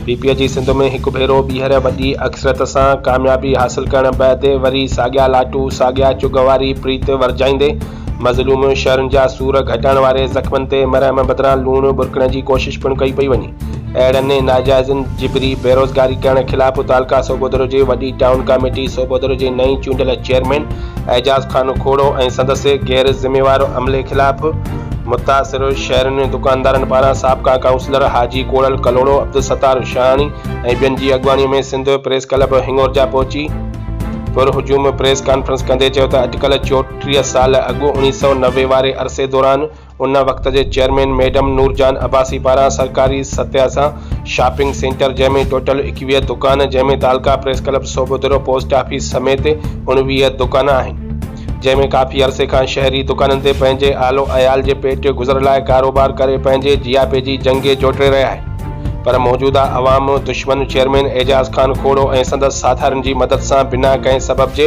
P P جي سنڌ ۾ هڪ ڀيرو ٻيهر وڏي اڪثريت سان ڪاميابي حاصل ڪرڻ بعد وري ساڳيا لاٽو، ساڳيا چغ واري پريت ورجائيندي، مظلوم شھرن جا سور گهٽائڻ واري زخمن تي مرهم بدران لوڻ ٻرڪڻ جي ڪوشش پڻ ڪئي پئي وڃي. اهڙن ناجائزن جبري بيروزگاري ڪرڻ خلاف تعلقه سوگودرو جي وڏي ٽائون ڪاميٽي سوگودرو جي نئين چونڊيل چيئرمين اعجاز خان کوڙو ۽ سندس غير ذميوار عملي خلاف متاثر شھرين دڪاندارن پاران سابقا ڪائونسلر حاجي ڪوڙل ڪلهوڙو عبدالستار شاهاڻي ۽ ٻين جي اڳواڻي ۾ سنڌ پريس ڪلب هنڱورجا پهچي پرهجوم پريس ڪانفرنس ڪندي چيو ته اٽڪل چوٽ ٽيهه سال اڳ اوڻيهه سؤ نوي واري عرصي دوران ان وقت جي چيئرمين ميڊم نور جهان عباسي پاران سرڪاري ستيا سان شاپنگ سينٽر جنهن ۾ ٽوٽل ايڪويهه دڪان جنهن ۾ تعلقه press club Sobhodero post office سميت اڻويهه دڪان آهن جنهن ۾ ڪافي عرصي کان شهري دڪانن تي پنهنجي آلو عيال جي پيٽ گذر لاء ڪاروبار ڪري پنهنجي جياپي جي جنگي جوٽي رهيا آهن پر موجوده عوام دشمن چيئرمين اعجاز خان کوڙو ۽ سندس ساٿارين جي مدد سان بنا ڪنهن سبب جي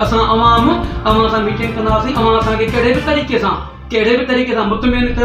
اسان عوام اوهان سان ميٽنگ ڪنداسين اوهان اسان کي ڪهڙي به طريقي سان ڪهڙي به طريقي سان مطمئن ڪيو.